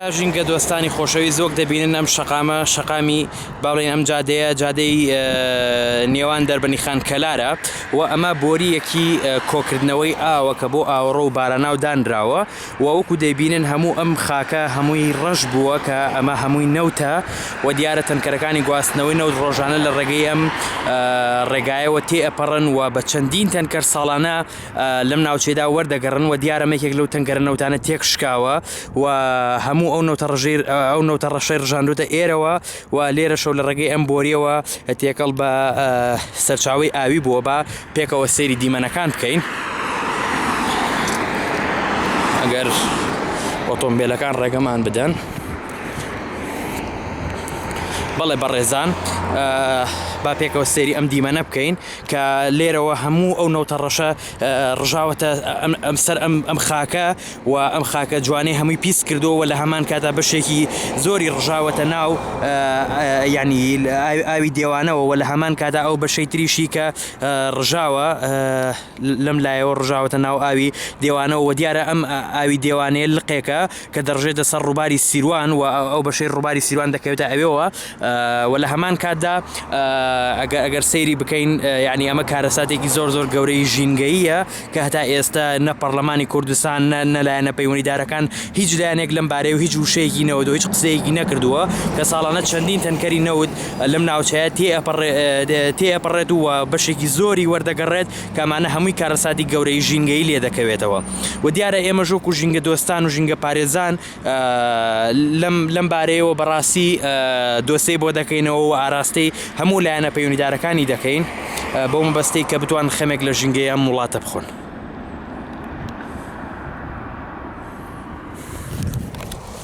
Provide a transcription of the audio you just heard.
ژینگە دۆستانی خۆشەویست وەک دەبینن ئەم شەقامە شەقامی باڵێن ئەم جادەیە جادەی نێوان دەربنی خان کەلارە و ئەمە بۆریەکی کۆکردنەوەی ئاوە کە بۆ ئاوەڕۆ و باراناو دانراوە و وەکو دەبینن هەموو ئەم خاکە هەمووی ڕەش بووە کە ئەمە هەمووی نەوتە و دیارە تەنکەرەکانی گواستنەوەی نەوت ڕۆژانە لە ڕێگەی ئەم ڕێگایەوە تێ ئەپەڕن و بە چەندین تەنکەر ساڵانە لەم ناوچەیەدا وەردەگەڕن و دیارە مێکێک لەو تەنگەرە نەوتانە تێک شکاوە و هەموو ئەو نەوتە ڕژیر ئەو نەوتە ڕەشەی ڕژاندوتە ئێرەوە و لێرە شەو لە ڕێگەی ئەم بۆریەوە تێکەڵ بە سەرچاوی ئاوی بووە بە پێکەوە سەیری دیمەنەکان بکەین ئەگەر ئۆتۆمبیلەکان ڕێگەمان بدەن. بەڵێ بەڕێزان با پێکەوە سێری ئەم دیمەنە بکەین کە لێرەوە هەموو ئەو نەوتە ڕەشە ڕژاوەتە سەر ئەم خاکە و ئەم خاکە جوانەی هەمووی پیس کردو و لە هەمان کاتا بەشێکی زۆری ڕژاوەتە ناو ینی ئاوی دێوانەوە و لە هەمان کاتا ئەو بەشەی تریشی کە ڕژاوە لەم لایەوە ڕژاوەتە ناو ئاوی دێوانەوە و دیارە ئەم ئاوی دێوانەیە لقێکە کە دەڕژێتە سەر ڕووباری سیروان و ئەو بەشەی ڕووباری سیروان دەکەوێتە ئەوێەوە و لە هەمان کاتدا ئەگەر سەیری بکەین یعنی ئەمە کارەساتێکی زۆر زۆر گەورەی ژینگەیە کە هەتا ئێستا نە پەرلەمانی کوردستان نەلایەنە پەیوەنیدارەکان هیچ لایەنێک لەم بارەیە و هیچ وشەیەکی نەوەدو هیچ قسەیەکی نەکردووە کە ساڵانە چەندین تەنکەری نەوت لەم ناوچەیە تێ ئەپەڕێت و بەشێکی زۆری وەردەگەڕێت کە ئەمانە هەمووی کارەساتی گەورەی ژینگەی لێ دەکەوێتەوە و دیارە ئێمە ژۆک و ژینگە دۆستان و ژینگە پارێزان لەم لەم بارەیەوە بەڕاستی دۆسەی بۆ دەکەینەوە و ئاراستەی هەموو لایەنە پەیوەندیدارەکانی دەکەین بۆ مەبەستەی کە بتوان خەمێک لە ژینگەی ئەم وڵاتە بخۆن.